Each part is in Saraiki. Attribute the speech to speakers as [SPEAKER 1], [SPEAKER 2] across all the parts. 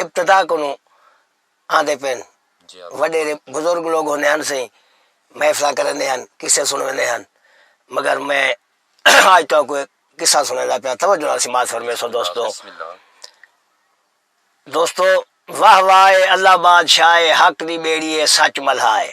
[SPEAKER 1] ابتدا کنوں آندے پئن۔ وڈیرے بزرگ لوگ ہوندے ہن سئیں محفلاں کریندے ہن قصے سنڑویندے ہن مگر میں آج تہاکوں ہک قصہ سنڑیندا پیاں توجہ نال سماعت فرمیسو دوستو۔ دوستو واہ واہ اے اللہ بادشاہ اے حق دی بیڑی اے سچ ملہا اے۔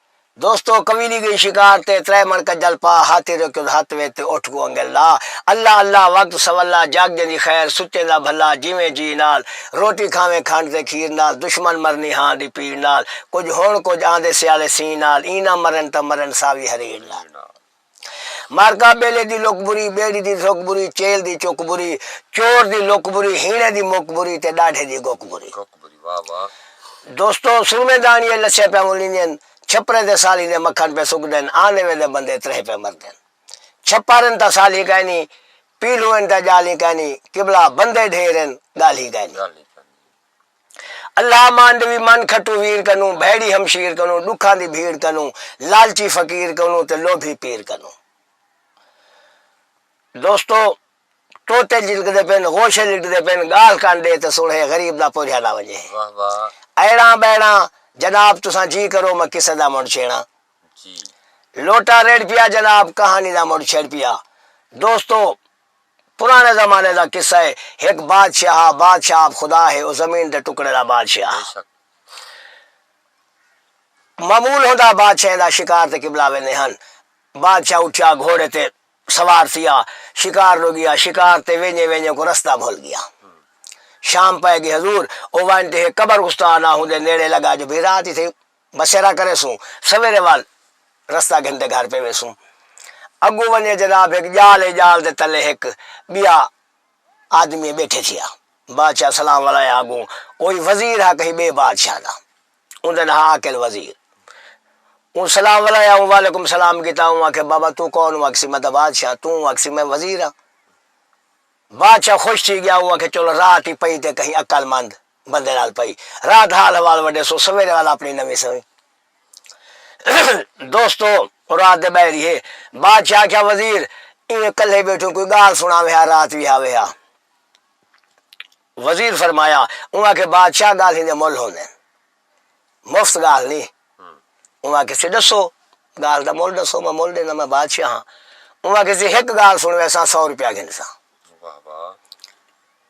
[SPEAKER 1] دوستو کویلی گئی شکار تے ترے مݨ کجل پا ہاتھی روکیوں ہتھ وچ تے اٹھ کوں انگل لا اللہ اللہ وقت سولا جاگ جیندی خیر سچے دا بھلا جیویں جی نال روٹی کھاویں کھنڈ تے کھیر نال دشمن مرنی ہاں دی پیڑ نال کجھ ہݨ کجھ آندے سیالے سین نال ایں نہ مرن تاں مرن ساوی ہریڑ نال۔ مارکا بیلے دی لک بری، بیڑی دی دھک بری، چیل دی چک بری، چور دی لک بری، ہیݨے دی مک بری تے ݙاڈھے دی گک بری۔ دوستو سرمے داݨیے لچھے پئے ملیندین، چھپرے تے سالی دے مکھݨ پئے سکدن، آندے ویندے بندے تریہہ پئے مردن۔ چھپر ہن تاں سالی کائنی، پیلھو ہن تاں ڄالھیں کائنی، قبلہ بندے ڈھیر ہن ڳالھیں کائنی۔ اللہ مانڈوی من کھٹو ویر کنوں بھیڑی ہمشیر کنوں ڈکھاں دی بھیڑ کنوں لالچی فقیر کنوں تے لوبھی پیر کنوں دوستو طوطے جلکدے پن غوشے لٹدے پن گالھ کن ڈے تے سنڑھے غریب دا پوجھا نہ ونجے ایڑاں بیڑاں جناب تساں جی کرو میں قصے دا مڑ چھیڑاں لوٹا ریڑھ پیا جناب کہانی دا مڑ چھیڑ پیا دوستو پراݨے زمانے دا قصہ ہے۔ ہک بادشاہ ہا۔ بادشاہ آپ خدا ہے۔ او زمین دے ٹکڑے دا بادشاہ ہا۔ معمول ہوندا بادشاہیں دا شکار تے قبلہ ویندے ہن۔ بادشاہ اٹھیا گھوڑے تے سوار تھیا۔ شکار ݙو ڳیا۔ شکار تے ویندے ویندے اوکوں رستہ بھل ڳیا۔ شام پئے ڳئی حضور۔ او ونڄ تے ہک قبر استانا ہوندے نیڑے لڳا جو بھئی رات اتھے بسیرا کریسوں سویرے وال رستہ گھن تے گھر پیویسوں اگوں ونجے جناب ہک جال ہے جال دے تلے ہک بیا آدمی بیٹھے تھیا بادشاہ سلام ولایا اگوں اوہی وزیر ہا کہیں بے بادشاہ دا اوندے ناں ہا عاقل وزیر اوں سلام ولایا اوں وعلیکم سلام کیتا اوں آکھیا بابا توں کون اوں آکھسی میں تاں بادشاہ توں اوں آکھسی میں وزیر ہاں بادشاہ خوش تھی گیا اوں آکھیا چلو رات ہی پئی تے کہیں عقل مند بندے نال پئی رات حال حوال وڈے سو سویرے والا اپنی نویں سویں دوستو او رات دے بہہ ریہے بادشاہ آکھیا وزیر ایویں کلھے بیٹھوں کوئی گال سناوے ہا رات وی ہاوے ہا وزیر فرمایا اوں آکھے بادشاہ گالھیں دے مول ہوندے مفت گال نی اوں آکھے سی ڈسو گال دا مول ڈسو میں مول دینا میں بادشاہ ہاں اوں آکھے سی ہک گال سنوے سا سو روپیہ گھن سا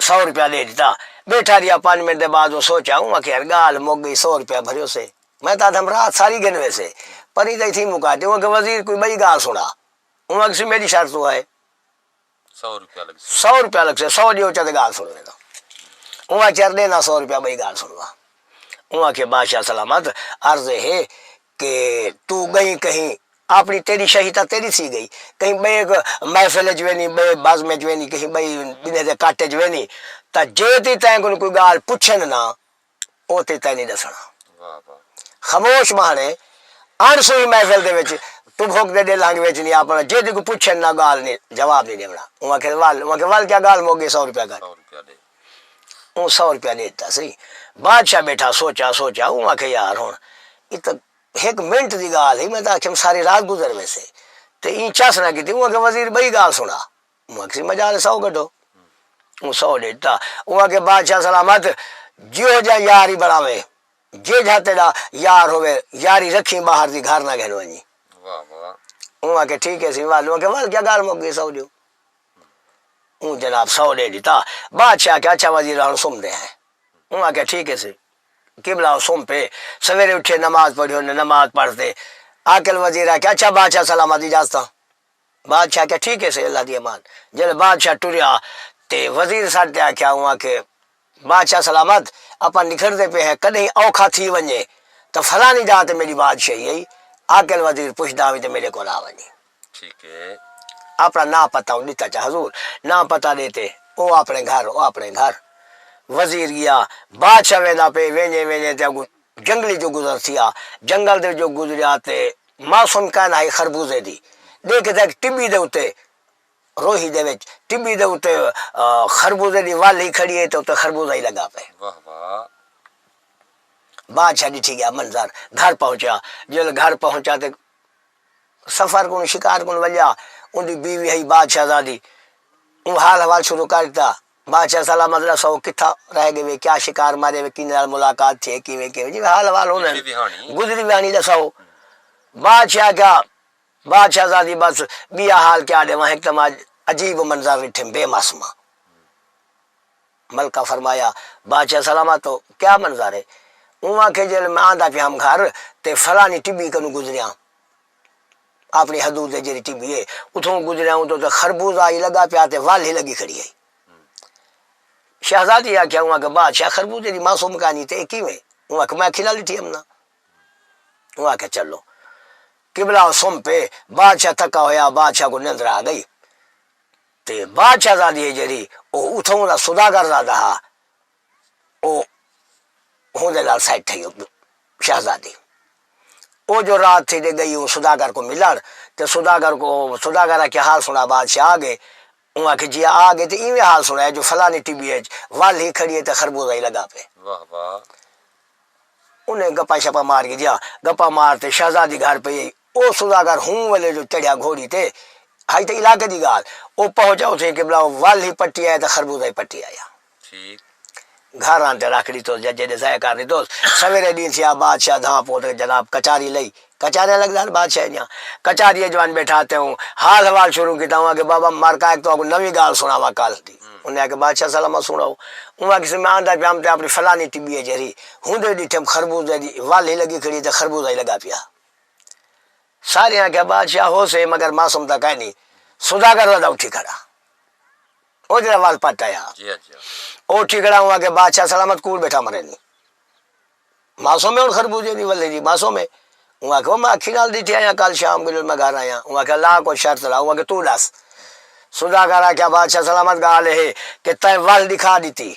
[SPEAKER 1] سو روپیہ ڈے ڈتا۔ بیٹھا رہیا پنج منٹ دے بعد اوں سوچیا اوں آکھیا یار گالھ مک گئی سو روپیہ بھریو سے میں تاں آدھم رات ساری گھن ویسے پر ایں کئی تھیں مکا تے اوں آکھیا وزیر کوئی بئی گالھ سنا اوں آکھسی میڈی شرط اوں ہے سو روپیہ لگسے سو روپیہ لگسے سو ڈیو چا تے گالھ سن وینداں اوں آکھیا یار ڈینا سو روپیہ بئی گالھ سنوا اوں آکھیا بادشاہ سلامت عرض ہے کہ توں ڳئیں کہیں آپݨی تیݙی شہی تاں تیݙی تھی ڳئی کہیں ٻئے محفل اچ ویندی ٻئے بزم اچ ویندی کہیں ٻئی ٻنہہ دے کٹ اچ ویندی تاں جے تیں تیں کوں کوئی ڳالھ پچھن نا او تیں تیں نی ݙسݨا خموش ٻہݨے اݨ سوہی محفل دے وچ توں بھک دے ݙل ہنگ وچ نی آپݨا جے تیں کوں پچھن نا ڳالھ نی جواب نی ݙیوݨا اوں آکھیس ول اوں آکھیس ول کیا ڳالھ مک ڳئی سو روپیہ گھن اوں سو روپیہ ݙے ݙتا سئی۔ بادشاہ ٻیٹھا سوچا سوچا اوں آکھیا یار ہݨ اے تاں ہک منٹ دی ڳالھ ہئی میں تاں آکھیم ساری رات گزر ویسے تے ایں چس نہ کیتی اوں آکھیا وزیر ٻئی ڳالھ سݨا اوں آکھسی مجال اے سو گڈھو اوں سو ݙے ݙتا اوں آکھیا بادشاہ سلامت جیہو جیہا یار ای بݨاویں جیجھا تیݙا یار ہووے یاری رکھیں ٻاہر دی گھر نہ گھن ونڄیں اوں آکھیا ٹھیک ہے سئی ول اوں آکھیا ول کیا ڳالھ مک ڳئی سو ݙیو۔ اوں جناب سو ݙے ݙتا۔ بادشاہ آکھیا اچھا وزیر ہݨ سمدے ہیں۔ اوں آکھیا ٹھیک ہے سی قبلہ او سم پئے۔ سویرے اٹھیے نماز پڑھی انہیں نماز پڑھ تے عاقل وزیر آکھیا اچھا بادشاہ سلامت اجازتاں۔ بادشاہ آکھیا ٹھیک ہے سی اللہ دی امان۔ جݙے بادشاہ ٹریا تے وزیر سݙ تے آکھیا اوں آکھے۔ بادشاہ سلامت اپاں نکھڑدے پئے ہیں کڈہیں اوکھا تھی ونجے تاں فلانی جاہ تے میڈی بادشاہی ہئی عاقل وزیر پچھدا ہوویں تے میڈے کول آ ونجے اپنا ناں پتہ اوں ڈتا چا حضور ناں پتہ ڈے تے او اپنے گھر او اپنے گھر وزیر گیا بادشاہ ویندا پئے وینجے وینجے تے اگوں جنگل اچوں گزر تھیا جنگل دے وچوں گزریا تے موسم کائنا ہئی خربوزے دی ڈے کیتا ہک ٹبی دے اتے روہی دے وچ ٹبی دے اتے خربوزے دی ول ہی کھڑی ہئی تے اتے خربوزہ ہی لگا پئے۔ بادشاہ ڈٹھی گیا منظر گھر پہنچیا جیلے گھر پہنچیا تے سفر کوں شکار کوں ولیا اوندی بیوی ہئی بادشاہ زادی اوں حال حوال شروع کر ڈتا بادشاہ سلام مدد ڈتا سو کتھا رہ گئے وے کیا شکار مارے وے کینے نال ملاقات تھی کیویں کیویں جی حال حوال ہوندے گزری ویانی ڈساؤ بادشاہ کیا۔ بادشاہ زادی بس بیا حال کیا ڈے واں ہک تاں ماں عجیب و منظر ڈٹھم بے معصومہ ملکہ فرمایا بادشاہ سلامت ہو کیا منظر ہے اوں آکھے جیل میں آندا پیا ہم گھر تے فلانی ٹبی کنوں گزریاں اپنی حدود دے جیری ٹبی ہے اتھوں گزریاں اوں تو خربوزہ ہی لگا پیا تے ول ہی لگی کھڑی ہے شہزادی آکھیا اوں آکھے بادشاہ خربوزے دی معصوم کہانی تے اے کیویں اوں آکھے میں اکھیں نال ڈٹھی ہم نا اوں آکھے چلو قبلہ او سم پئے، بادشاہ تھکا ہویا، بادشاہ کوں نندر آ گئی تے بادشاہ زادی ہے جیڑھی او اتھوں دا سوداگر زادہ ہا او ہوندے نال سیٹ تھئی شہزادی او جو رات تھی تے گئی او سوداگر کوں ملن تے سوداگر کوں سوداگر آکھیا حال سنا بادشاہ آ گئے اوں آکھیے جی آ گئے تے ایویں حال سنڑایا جو فلانی ٹبی اچ ول ہی کھڑی ہے تے خربوزہ ہی لگا پئے۔ واہ واہ۔ انہیں گپاں شپاں مار گھدیاں۔ گپاں مار تے شہزادی گھر پئی ہئی۔ او سوداگر ہوں ویلے جو چڑھیا گھوڑی تے۔ ہئی تے علاقے دی گالھ۔ او پہنچا اتھیں قبلہ او ول ہی پٹی آیا تے خربوزہ ہی پٹی آیا۔ گھر آن تے رکھ ڈیتوس یا جیڈے ضائع کر ڈیتوس سویرے ڈینھ تھیا بادشاہ دھاں پوت کے جناب کچاری لئی کچاریاں لگدا ہن بادشاہ دیاں کچاری اچ ونج بیٹھا تے اوں حال حوال شروع کیتا اوں آکھیا بابا مر کا اک تہاکوں نوی گالھ سناواں کل دی انہاں آکھیا بادشاہ سلاماں سناؤ اوں آکھیس میں آندا پیام تے اپنی فلانی ٹبی اچ ہری ہوندے ڈیٹھم خربوزے دی ول ہی لگی کھڑی تے خربوزہ ہی لگا پیا سارے آکھیا بادشاہ ہوسے مگر معصوم تاں کائنی سوداگر دا اتھی کھڑا۔ او جیڑھا ول پٹ آیا ہا۔ او اٹھی کھڑا ہوں آکھیا بادشاہ سلامت کول بیٹھا مرینی معصوم ہے ہن خربوزے دی ولے جی معصوم ہے۔ اوں آکھیا او میں اکھی نال ڈٹھے آیاں کل شام ویلے میں گھر آیاں۔ اوں آکھیا لا کوئی شرط لا اوں آکھیا توں ڈس۔ سوداگر آکھیا بادشاہ سلامت گالھ اے ہے کہ تیں ول ڈکھا ڈتی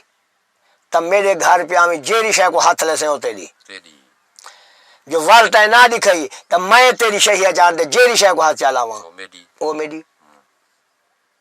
[SPEAKER 1] تاں میڈے گھر پیا آویں جیڑھی شے کوں ہتھ لیسیں او تیڈی جو ول تیں نہ ڈکھائی تاں میں تیڈی شہیاں چاندے جیڑھی شے کوں ہتھ چا لاواں او میڈی۔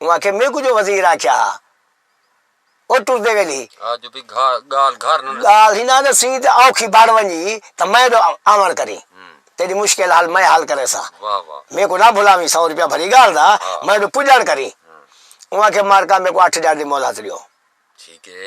[SPEAKER 1] اوں آکھیے میکوں جو وزیر آکھیا ہا او ٹردے ویلے ہی۔ ہا جو بھئی گالھ گھر نہ ݙسیں۔ گالھ ہی نہ ݙسیں تے اوکھی بݨ ونڄی تاں میں ݙو آوݨ کریں تیݙی مشکل حل میں حل کریساں۔ واہ واہ۔ میکوں نہ بھلاویں سو روپیہ بھری گالھ دا میں ݙو پڄݨ کریں۔ اوں آکھیے مارکا میکوں اٹھ ڄݨ دی مہلت ݙیو۔ ٹھیک ہے۔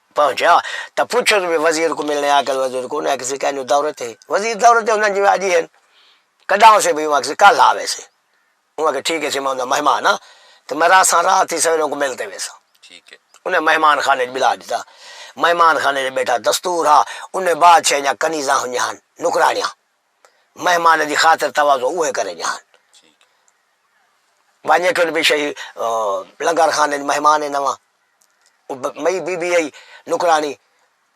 [SPEAKER 1] پہنچیا تاں پچھس وی وزیر کوں ملنے آکھیس وزیر کوں انہاں آکھیس کینجو دورے تے وزیر دورے تے ہوندن جیویں اج ہی ہن کڈاں ہوسے بھئی اوں آکھیس کل آ ویسے اوں آکھیس ٹھیک ہے سی میں اوندا مہمان ہاں تے میں رہساں رات ہی سویرے اونکوں مل تے ویساں انہیں مہمان خانے اچ بلا ڈتا مہمان خانے اچ بیٹھا دستور ہا انہیں بادشاہ دیاں کنیزاں ہنجھاں ہن نوکرانیاں مہمان دی خاطر تواضع اوہے کرے جہان ونجے کن بھی شہی لنگر خانے وچ مہمان ہے نواں مئی بی بی آئی نکرانی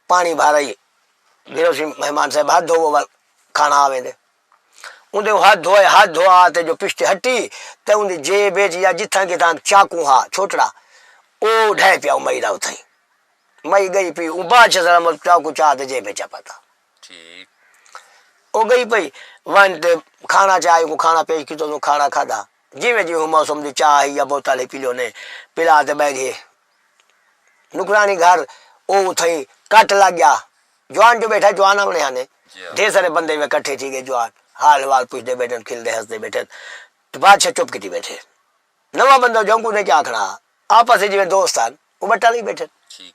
[SPEAKER 1] پانی بھر آئی گرو سی مہمان صاحب ہاتھ دھوو ول کھانا آوے دے ان دے ہاتھ دھوئے ہاتھ دھوا تے جو پشتے ہٹی تے ان دی جیب وچ یا جتھاں کتھاں چاقو ہا چھوٹڑا او ڈھے پیا مئی دا اتھاں مئی گئی پی اون بادشاہ سلام چاقو چا تے جیب وچ پتا او گئی پئی ونج تے کھانا چاہ کو کھانا پیش کیتا تو کھانا کھادا جی میں جی ہوں موسم دی چاہ یا بوتل ہی پیلو نے پلا تے بیٹھ گئے نکرانی گھر او اتھائی کٹ لگ گیا جوان جو بیٹھا جوان آونے آنے ڈھیر سارے بندے میں کٹھے تھی گئے جوان حال حوال پوچھتے بیٹھے کھلتے ہستے بیٹھے تو بادشاہ چپ کیتی بیٹھے نواں بندہ جو کوں نکیا کھڑا ہا۔ آپس اچ جیویں دوست ہن او وٹا لئی بیٹھن۔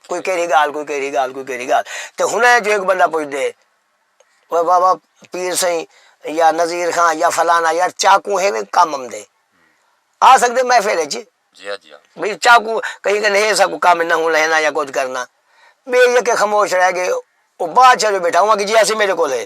[SPEAKER 1] کوئی کیڑھی گالھ کوئی کیڑھی گالھ کوئی کیڑھی گالھ تے ہنڑ اے جو ہک بندہ پچھدے او بابا پیر سئیں یا نذیر خاں یا فلانا یار چاقو ہیوے کم امدے آ سکدے محفل اچ بھئی چاقو کہیں کنے ہے سا کوئی کم نہ ہن ہینا یا کچھ کرنا بے یکے خموش رہ گئے او بادشاہ جو بیٹھا ہوا کہ جی ایسی میرے کول ہے۔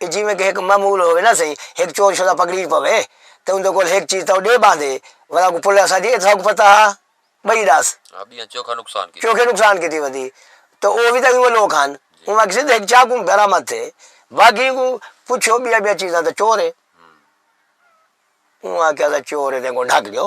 [SPEAKER 1] اے جیویں کہ ہک معمول ہووے نہ سہی ہک چور شدہ پکڑیج پوے تے اوندے کول ہک چیز تاں او ڈے باندے ولا کوں پلے اساں دی اے تساں کوں پتہ ہا بئی ڈس چوکھا نقصان کیتی چوکھے نقصان کیتی ودی تے او وی تاں ایویں لوک ہن اوواں کسے دے ہک چاقوں برآمد تھے باقی کوں پچھو بیاں بیاں چیزاں تاں چور اے اوواں آکھیا اساں چور اے تیں کوں ڈھک ڈیو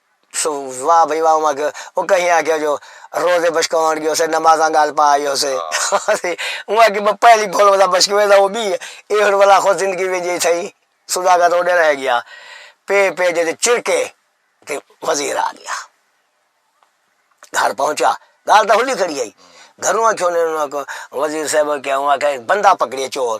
[SPEAKER 1] سو واہ بھئی واہ اوماں کیوں او کہیں آکھیا جو روزے بشکوان گیو سے نمازاں گال پا آیو سے اوماں کی میں پہلی بھول ودا بشکوے دا او بھی ہے اے ہن ولا خود زندگی وچ جے تھئی سودا کا تو ڈے رہ گیا پے پے جے چرکے تے وزیر آ گیا گھر پہنچا گال دا ہلی کھڑی آئی گھروں آکھیوں نے وزیر صاحب کیا ہوا کہ بندہ پکڑیا چور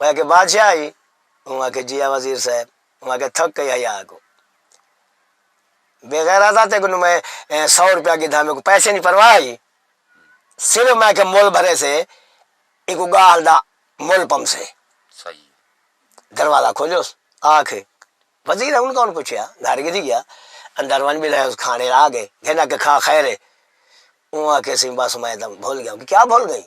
[SPEAKER 1] میں آکھیا بادشاہ ہئی؟ اوں آکھیا جی ہا وزیر صاحب۔ اوں آکھیا تھک کئی حیا کوں بے غیرتا تے کنوں میں سو روپیہ گدھا میکوں پیسے نی پرواہ ہئی صرف میں آکھیا مول بھرے سے ایکوں گالھ دا مول پمسے دروازہ کھولیوس آکھ وزیر ہن کون پچھیا گھر گدھی گیا اندر ونج بلہے اس کھانے آگے گھن آکھیا کھا خیر ہے اوں آکھیا سی بس میں تاں بھول گیا کیا بھول گئیں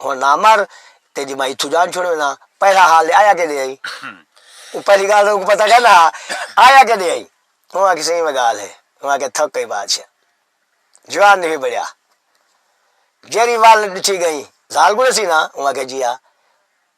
[SPEAKER 1] ہن نہ مر تے جی میں اتھوں جان چھوڑے نا پہلا حال دے آیا کیدے ہئی او پہلی گال تے اوکوں پتہ کیندا ہا آیا کیدے ہئی او آکھے سی ایویں گال ہے او آکھے تھک گئی بادشاہ جوان نہیں بڑیا جیری وال ڈٹھی گئی زال گڑے سی نا او آکھے جی ہا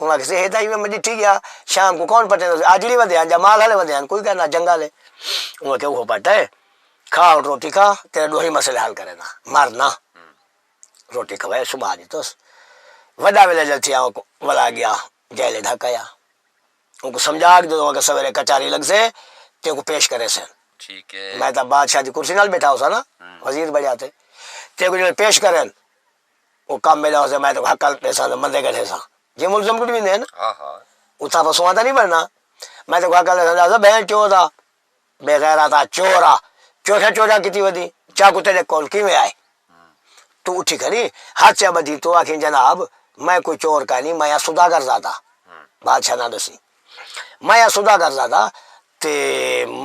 [SPEAKER 1] انہاں آکھیسے ہے تاں ایویں میں ڈٹھی گیا شام کوں کون پٹیندا ہوسی آجڑی ودے ہن یا مال ہلے ودے ہن کوئی کہنا جنگا لے انہاں آکھیا اوہو پٹ ہے کھا ہن روٹی کھا تیرے ڈوہیں مسئلے حل کرینا مر نہ روٹی کھوائے صبح ڈتوس وڈا ولیجر تھیا اوکوں ولا گیا جیل اچ ڈھکایا اوکوں سمجھا کے جدوں اگے سویرے کچہری لگسے تے اوکوں پیش کریسن میں تاں بادشاہ دی کرسی نال بیٹھا ہوساں نا وزیر بنڑیا تے تیکوں جدوں پیش کرن او کم میڈا ہوسے میں تیکوں ہکل ڈیساں تے مندے گڈھیساں جے ملزم کڈ ویندے ہن اتھاں رسواں تاں نی بننا میں تیکوں ہکل ڈیساں تے آکھساں بہن چود آ بے غیراتا چور آ چوٹھا چوراں کیتی ودی چاقو تیڈے کول کیویں آئے تو اٹھی کھڑی ہتھ چا بدھی تو آکھیں جناب میں کوئی چور کائنی میں آں سوداگر زادہ بادشاہ ناں ڈسی میں آں سوداگر زادہ تے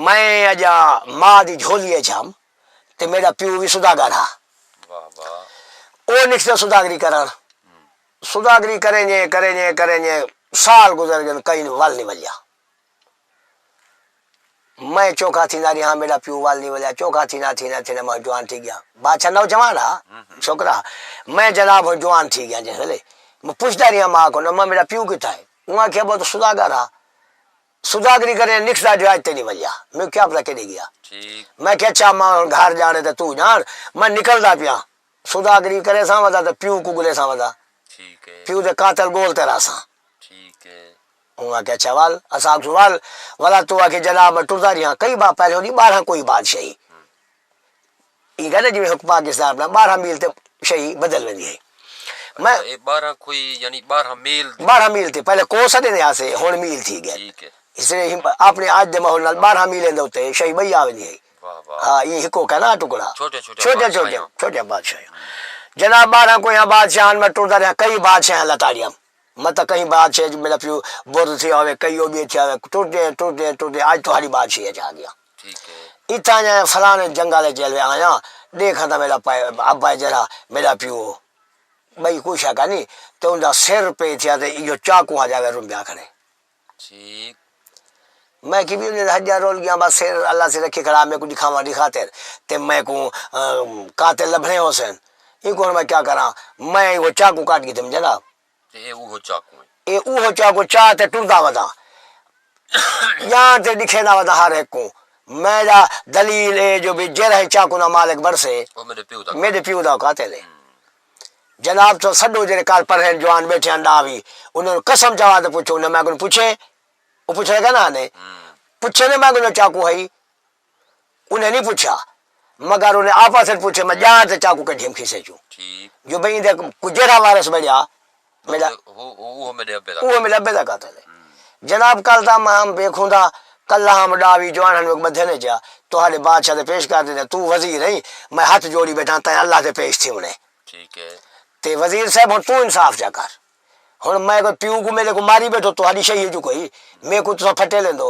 [SPEAKER 1] میں اجاں ماء دی جھولی اچ ہم۔ تے میݙا پیو وی سوداگر ہا۔ او نکسے سوداگری کرݨ۔ سوداگری کرینڄے کرینڄے کرینڄے سال گزر ڳن کئین ول نی ولیا۔ میں چوکھا تھیندا ریہاں میݙا پیو ول نی ولیا چوکھا تھیندا تھیندا تھیندا میں جوان تھی ڳیاں۔ بادشاہ نوجوان ہا چھوکرا ہا۔ میں جناب ہݨ جوان تھی ڳیاں جس ویلے میں پچھدا ریہاں ماء کوں ماء میݙا پیو کتھا ہے؟ اوں آکھیا ٻو تاں سوداگر ہا۔ سوداگری کریں تے نکھدا جو اج تئیں نی ولیا میکوں کیا پتہ کیڈے گیا میں کیا اچھا اماں ہن گھر جانے تے توں جان میں نکلدا پیاں سوداگری کرے ساں ودا تے پیو کوں گلے ساں ودا پیو دے قاتل گول تے رہا ساں اوں آکھیا اچھا ول اساں آکھسوں ول ولا توں آکھے جناب میں ٹردا ریہاں کئی بار پہلے ہونی بارہاں کوئی بادشاہی ایں گالھیں جیویں حکم پاکستان اپنا بارہاں میل تے شئی بدل ویندی ہئی۔ میں۔ اچھا اے بارہاں کوئی یعنی بارہاں میل۔ بارہاں میل تے پہلے کوس آندے ہن آسے ہن میل تھی گئے۔ ٹھیک ہے۔ اس طرح ہی اپنے آج دے ماحول نال بارہاں میلیں دے اتے شئی بئی آ ویندی ہئی۔ واہ واہ۔ ہا ایں ہکو کہنا ٹکڑا۔ چھوٹے چھوٹے۔ چھوٹے چھوٹے چھوٹے بادشاہ۔ جناب بارہاں کویاں بادشاہاں میں ٹردا رہیا کئی بادشاہاں لتاڑیاں۔ میں تاں کہیں بادشاہ اچ میڈا پیو برد تھیا ہووے کئی او وی تھیا ہووے ٹردے ہیں ٹردے ہیں ٹردے ہیں اج تہاڈی بادشاہی اچ آ گیاں اتھاں جائے فلانے جنگل اچ جلوے آیاں ڈیکھا تاں میڈا پائے ابا ہے جیڑھا میڈا پیو ہو بئی کوئی شک ہے نی تے اوندا سر پے تھیا تے ایو چاقو ہا جاوے رمبیا کھڑے۔ میں کی ویلے دا حجہ رول گیاں بس سر اللہ سے رکھی کھڑا میکوں ڈکھاواں دی خاطر تے میکوں قاتل لبھنے ہوسن اینکوں ہن میں کیا کراں میں او چاقو کڈ کے تھیوں جناب تے اے اوہو چاقو اے اے اوہو چاقو چا تے ٹردا وداں جاں تے ڈکھیندا وداں ہر ہک کوں میں دا دلیل اے جو جیرھا اے چاقو نا مالک بنڑسے او میڈے پیو دا قاتل اے۔ جناب توں سڈو جیڑھے کر پرھین جوان بیٹھے ہن ڈا وی انہاں نوں قسم چوا تے پچھو انہاں میں کوں پچھے او پچھے لگا نا نے پچھے نے میں کوں چاقو ہئی انہیں نہیں پچھا مگر انہیں آپس پچھے میں جان تے چاقو کڈھیم کھیسے چوں جو بھئی دے جیڑھا وارث بنیا اوہ میڈے ابے دا قاتل ہے۔ جناب کل دا ماں ہم بے خوندا کلہ ہم ڈا وی جوان ہن وک بدھے نے جیا تہاڈے بادشاہ دے پیش کر دیندے تو وزیر ہیں میں ہتھ جوڑی بیٹھاں تیں اللہ دے پیش تھی ونے ٹھیک ہے تے وزیر صاحب ہن تو انصاف جا کر ہن میں کوئی پیو کو میرے کو ماری بیٹھو تہاڈی شہی جو کوئی میں کو تساں پھٹے لیندو۔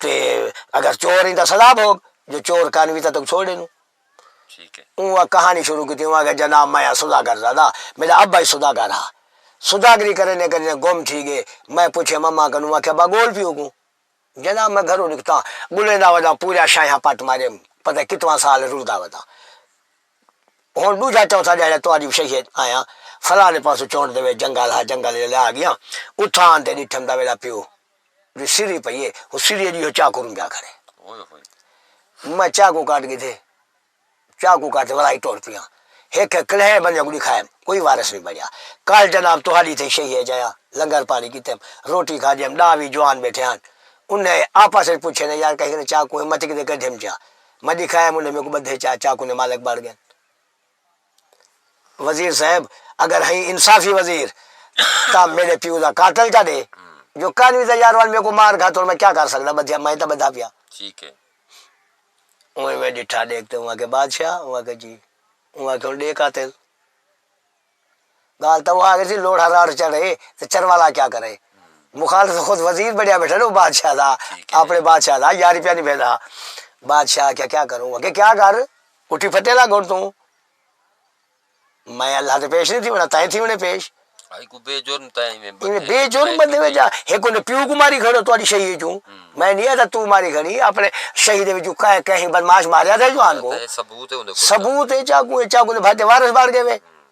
[SPEAKER 1] تے اگر چور ہی تاں سزا بھوگ جو چور کن وی تاں توں چھوڑ ݙینوں۔ اوں کہاݨی شروع کیتی اوں آکھیا جناب میں ہاں سوداگر زادہ میݙا ابا ہی سوداگر ہا سوداگری کریندے کریندے گم تھی ڳئے میں پچھیے مما کن اوں آکھیا ابا ڳول پیو کوں جناب میں گھروں نکتاں ڳلیندا ودا پورا شاہیاں پٹ ماریم پتہ کتواں سال رلدا ودا ہݨ ݙوجھا چوتھا ݙیہاڑا تہاݙی شہیے آیاں فلاں دے پاسوں چونڈ دے وچ جنگل ہا جنگل ݙے آڳیاں اتھاں آن تے ݙٹھم تاں میݙا پیو دی سری پئی ہے او سری ہے جی او چاقو نو پیا کھڑے میں چاقو کاٹ گھدے چاقو کاٹ تے ولائی ٹر پیا ہک ہک کلہے بندے کوں ڈکھائے کوئی وارث نی بنیا کل جناب تہاڈی تھئی شہی اچ آیا لنگر پانی کیتے روٹی کھادی ہم ڈاہ وی جوان بیٹھے ہن انھے آپس اچ پچھے نے یار کہیں کنے چاقو ہے متی کیتے کڈھیم چا میں ڈکھائے انھے میکوں بدھے چا چاقو نے مالک بن گئے۔ وزیر صاحب اگر ہئی انصافی وزیر تاں میڈے پیو دا قاتل تاں ڈے جو کانوی دا یاروال میکوں مار گھا توں میں کیا کر سکدا بدھیا میں تاں بدھا پیا ٹھیک ہے اوئیں میں ڈٹھا ڈیکھ تے اوں آکھے بادشاہ اوں آکھے جی اوں آکھے ہن ڈے قاتل گال تاں اوہا گسی لوڑھا راڑ چڑھے تے چروالا کیا کرے مخالف تاں خود وزیر بنیا بیٹھا او بادشاہ دا اپنے بادشاہ دا یاری پیا نبھیندا بادشاہ آکھیا کیا کروں اگے کیا کر اٹھی پھٹے لگ ہن توں میں اللہ دے پیش نہیں تھی ہونا تائیں تھی ہونے پیش بے جرم تائیں بے جرم بندے وچ ایک نے پیو کو ماری کھڑو تواڈی شہید وچوں میں نہیں آتا تو ماری کھڑی اپنے شہید وچوں کہیں کہیں بدمعاش ماریا تھا جوان کو ثبوت ہے ثبوت ہے چاکو چاکو دے بھائی تے وارث بن گئے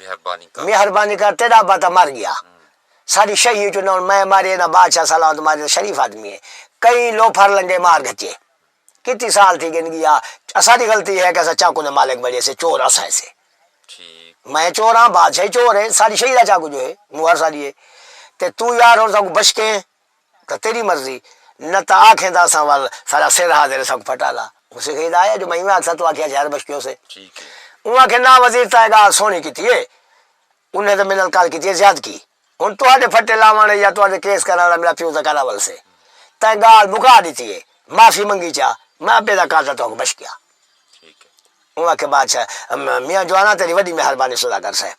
[SPEAKER 1] مہربانی کر۔ مہربانی کر تیڈا ابا تاں مر گیا ساڈی شہی اچوں نہ ہن میں مارے نہ بادشاہ سلامت مارے تاں شریف آدمی ہے کئی لوفر لنگے مار گھچے کتی سال تھی گن گیا اساڈی غلطی ہے کہ اساں چاقو دے مالک بنڑے سے چور اساں ہے سے میں چور ہاں بادشاہ ہی چور ہے ساڈی شہی دا چاقو جو ہے مہر ساڈی ہے تے تو یار ہن ساکوں بشکیں تاں تیݙی مرضی، نہ تاں آکھیں تاں اساں ول ساݙا سر ہا تیݙے سنگ پھٹا لا۔ مونسے کہیں دا آیا جو میں ایویں آکھساں توں آکھیاں شہر بشکیوں سے۔ اوں آکھے ناں وزیر تاں اے ڳالھ سوہݨی کیتی اے۔ انھیں تاں میݙے نال کل کیتی اے زیادکی۔ ہݨ تہاݙے پھٹے لاوݨ یا تہاݙے کیس کرݨ آلا میݙا پیو تاں کر اول سے۔ تئیں ڳالھ مکا ݙتی اے۔ معافی منگی چا۔ میں ابے دا قاتل تہاکوں بشکیا۔ اوں آکھے بادشاہ میاں جوانا تیݙی وݙی مہربانی سوداگر صاحب۔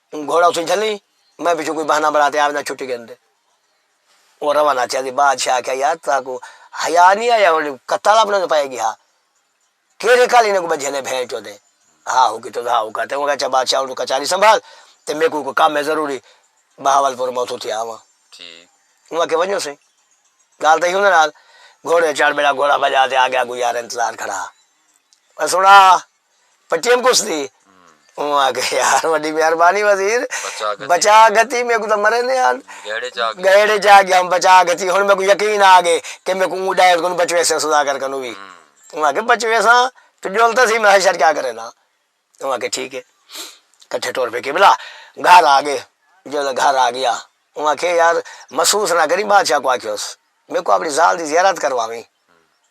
[SPEAKER 1] اوں گھوڑا اتھوں جھلی، میں پچھوں کوئی بہانہ بݨا تے آوندا چھٹی گھن تے اوہ روانہ تھیا سی۔ بادشاہ آکھیا یار تہاکوں حیا نی آیا ہݨ کتال اپݨے توں پئے گی ہا کیرھے کل انہاں کوں ٻدھیاں نے بھینٹ چودے ہا ہو کیتے ہا ہو کاتے اوں آکھیا اچھا بادشاہ ہݨ توں کچاری سنبھال تے میکوں کوئی کم ہے ضروری بہاولپور میں اتھوں تھی آواں اوں آکھیا ونڄو سئیں ڳالھ تئیں ہوندے نال گھوڑے چڑھ ٻیڑا گھوڑا بھڄا تے آڳے اڳوں یار انتظار کھڑا ہا سݨا۔ پٹیم کس دی اوں آکھے یار وڈی مہربانی وزیر بچا گھتی میکوں تاں مرے نے آن گہیڑے چا گیا ہوں بچا گھتی ہن میکوں یقین آ گئے کہ میکوں اوں ڈائر کنوں بچ ویسے سوداگر کنوں وی اوں آکھے بچ ویساں تو جول تاں سی میں حشر کیا کرے نا اوں آکھے ٹھیک ہے کٹھے ٹور پے قبلہ گھر آ گئے جدوں گھر آ گیا اوں آکھے یار محسوس نہ کریں بادشاہ کو آکھیوس میکوں اپنی زال دی زیارت کرواویں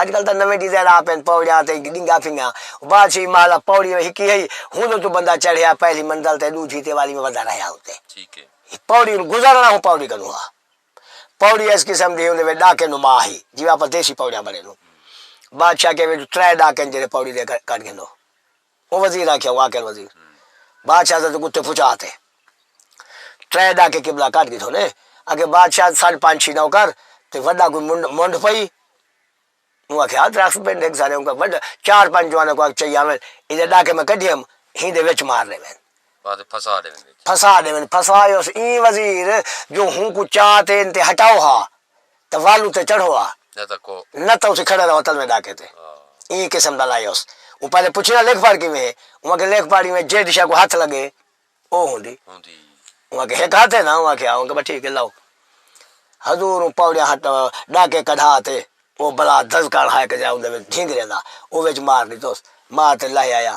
[SPEAKER 1] اج کل تاں نویں ڈیزائن آ پئن پوڑیاں تے ڈنگا پھنگا بادشاہی محل ا پوڑی ہکی ہئی ہن توں بندہ چڑھیا پہلی منزل تے ڈوجھی تے والی میں ودھا رہیا اتے پوڑی ال گزرنا ہوں پوڑی کنوں ہا پوڑی اس قسم دی ہوندے وچ ڈاکے نما ہی جیویں اپاں دیسی پوڑیاں بنڑے نوں بادشاہ کے وچ ترے ڈاکے جڑے پوڑی دے کڈ گھندو۔ او وزیر آکھیا واقعن وزیر بادشاہ ساڈے کتے پھچا تے ترے ڈاکے قبلہ کڈھ گھدو نے اگے بادشاہ ساڈ پنج چھی نوکر تے وڈا کوئی منڈ منڈھ پئی اوں آکھیا درخت پنڈ ہک سارے اوں وڈ چار پنج جواناں کو چئی آون ایدے ڈاکے میں کڈھی ہم ہین دے وچ مار ڈیون بعد پھسا ڈیون وچ پھسا ڈیون پھسا یوس ایں وزیر جو ہوں کو چا تے انتے ہٹاؤ ہا۔ تاں والوں تے چڑھو آ۔ نہ تاں اسی کھڑے رہو تلویں ڈاکے تے۔ ایں قسم دا لائیوس۔ اوں پہلے پچھیاں لکھ پڑھ کیویں ہے؟ اوں آکھیا لکھ پڑھ ایویں جیڈ شے کوں ہتھ لگے او ہوندی۔ اوں آکھیا ہک ہتھ ہے نا؟ اوں آکھیا ہا۔ اوں آکھیا بس ٹھیک ہے لو۔ حضور اوں پوڑیاں ہٹ ڈاکے کڈھا تے او بلا دزکان ہائے کہ جیڑھا اوندے وچ ڈھینگریاں دا او وچ مار ڈتوس۔ مار تے لہہ آیا۔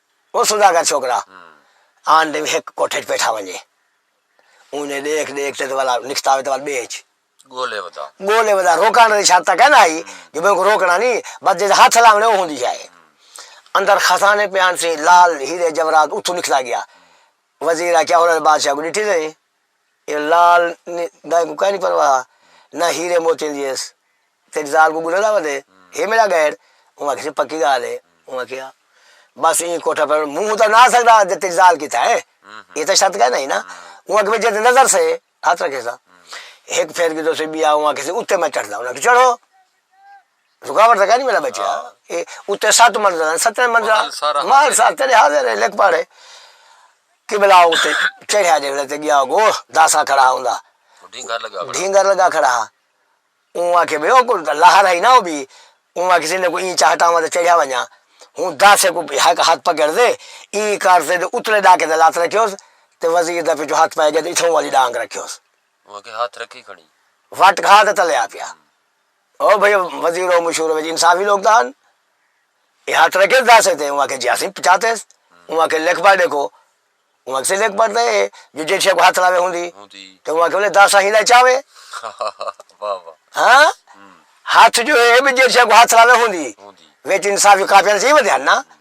[SPEAKER 1] او سوداگر چھوکرا آن ڈے ہک کوٹھے اچ پیٹھا ونجے اونجھے ڈیکھ ڈیکھ تے ول نکھتا وے تے ول بے اچ گولے ودا گولے ودا روکان دی شرط تک ہے نا ہئی جو میں کو روکنا نی بس جے ہتھ لاونے او ہوندی شے اندر خزانے پیان سی لال ہیرے جورات اتھوں نکھتا گیا وزیر آکھیا ہن بادشاہ کو ڈٹھی تسیں اے لال دا کوں کائنی پرواہ نہ ہیرے موتیاں دی ایس تیڈی زال کوں گلہ دا ودے ہے میڈا گیڈ اوں آکھیسے پکی گال ہے اوں آکھیا بس ایں کوٹھا پڑ موں ہوں تاں نہ آسکدا جے تیڈی زال کیتا ہے اے تاں شرط کائنا ہی نا اوں آکھیا جے نظر سے ہتھ رکھیساں ہک پھیر گھدو سے بیا اوں آکھیسے اتے میں چڑھدا اوں آکھیا چڑھو رکاوٹ تاں کائے نی میڈا بچیا اے اتے ست منزلاں ہن ستیں منزلاں محل سارا حاضر محل سارا تیڈے حاضر اے لکھ پڑھ قبلہ اتے چڑھیا جے ویلے تے گیا اگو داساں کھڑا ہوندا ڈھینگر لگا کھڑا ڈھینگر لگا کھڑا ہا اوں آکھے بھئی او کو لہر ہئی نا او بھی اوں آکھے سی کو ایں چا ہٹاواں تے چڑھیا ونجاں ہوں داسے کو ہک ہتھ پکڑ دے ایں کر تے اتلے ڈاکے تے لت رکھیوس تے وزیر دا پچھوں ہتھ پے گیا تے اتھوں والی ڈانگ رکھیوس اوں آکھے ہتھ رکھی کھڑی وٹ کھا تے تلے آ پیا او بھئی وزیرو مشورو وچ انصافی لوک تاں ہن اے ہر طرح کیت داسے تے اوں آکھیا جی اسیں پچاتے س اوں آکھیا لکھ پڑھ ڈیکھو اوں آکھیا لکھ پڑھ تے اے جو جیڈ شے کو ہتھ لاوے ہوندی تے اوں آکھیا ولے داسا ہیلا چاوے ہاں ہتھ جو اے جیڈ شے کو ہتھ لاوے ہوندی وچ انصافی کاپیاں تے چاہی ودے ہن نا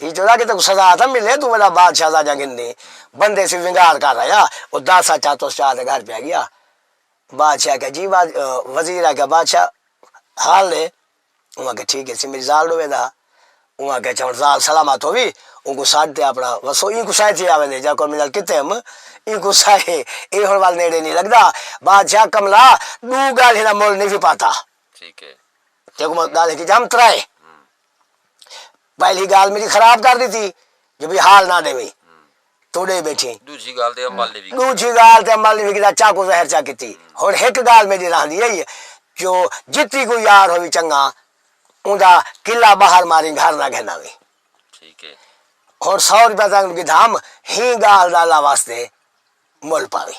[SPEAKER 1] ہی جو راگے تیکوں سزا تاں ملے توں وڈا بادشاہ سا جاں گھندی بندے سی ونگار کر آیا او دس اچا توس چا دے گھر پیا گیا بادشاہ آکھیا جی وزیر آکھیا بادشاہ حال دے انہاں کہ ٹھیک ہے سی میری زال ڈوے دا انہاں کہ چون زال سلامت ہووی ان کو ساڈ تے اپنا وسو ان کو سائے تھی آوے دے جا کو منال کتے ہم ان کو سائے اے ہن وال نیڑے نہیں لگدا بادشاہ کملا دو گال ہنا مول نہیں پاتا ٹھیک ہے تیکوں گال کی جام ترائے پہلی گالھ میڈی خراب کر ڈتی جو بھئی حال نہ ڈیوی تو ڈے بیٹھی دوجی گالھ تے عمل نہیں دوجی گالھ تے عمل نہیں کیتا چاکو زہر چا کیتی ہن ہک گالھ میڈی رہندی ہے جو جتی کوئی یار ہووی چنگا اوندا کلا باہر ماری گھر نہ گھن آوی ٹھیک ہے ہن سو روپیہ تانوں گدھام ہی گالھ دا اللہ واسطے مول پاوی